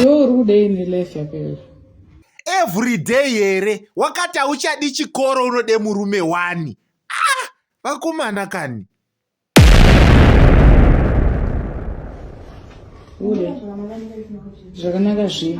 Iwe uri kudei nelife yako iyoyo? Everyday here wakati hauchadi chikoro unode murume wani? Ah, vakomana kani. Ude. Zvakanaka zvipi?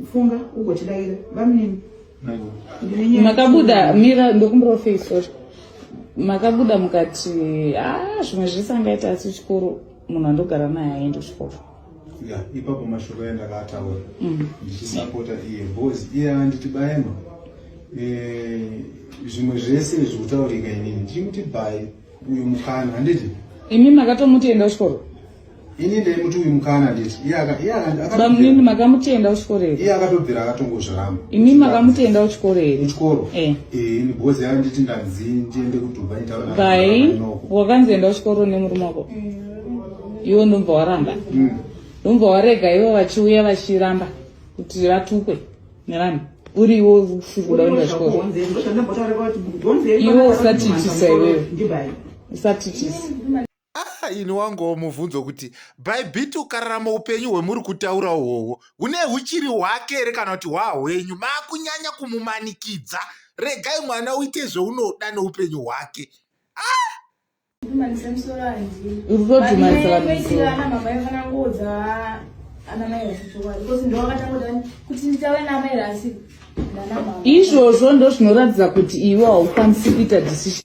Kufunga uko chidaira bamnini. Makabuda mira ndokumbira face sorry. Makabuda mukati ah zvimwe zvese angaita asi chikoro munhu andogara naye aende kuchikoro. Yeah, ipapo mashoko enda kaataura. Mm. Ndichisapota iye boys iye anditi baema. Eh zvimwe zvese zvokutaurika inini ndiri kuti bhayi uyu mukana handiti imi makatomuti enda kuchikoro ini ndaimuti uyu mukana nditi bamnini makamutenda kuchikoro here iye akatobvira akatongozviramba imi makamutenda kuchikoro here kuchikoro eh. eh, ini bhozi yava nditi ndanzi ndiende kudubai ntaai wakanzi enda kuchikoro nemurume wako mm. iwo ndombva waramba mm. ndombva warega ivo vachiuya vachiramba kuti vatukwe nevanhu uri iwo usiri kuda kuenda kuchikoro iwo usatiitisa iwewe usatiitisa Ah, ini wangowo mubvunzo kuti bhaibhiti ukararama upenyu hwemuri kutaura uhwohwo hune huchiri hwake here kana kuti hwahwenyu maakunyanya kumumanikidza regai mwana uite zveunoda neupenyu hwake izvozvo ndozvinoratidza kuti iwe haukwanisi kuita decision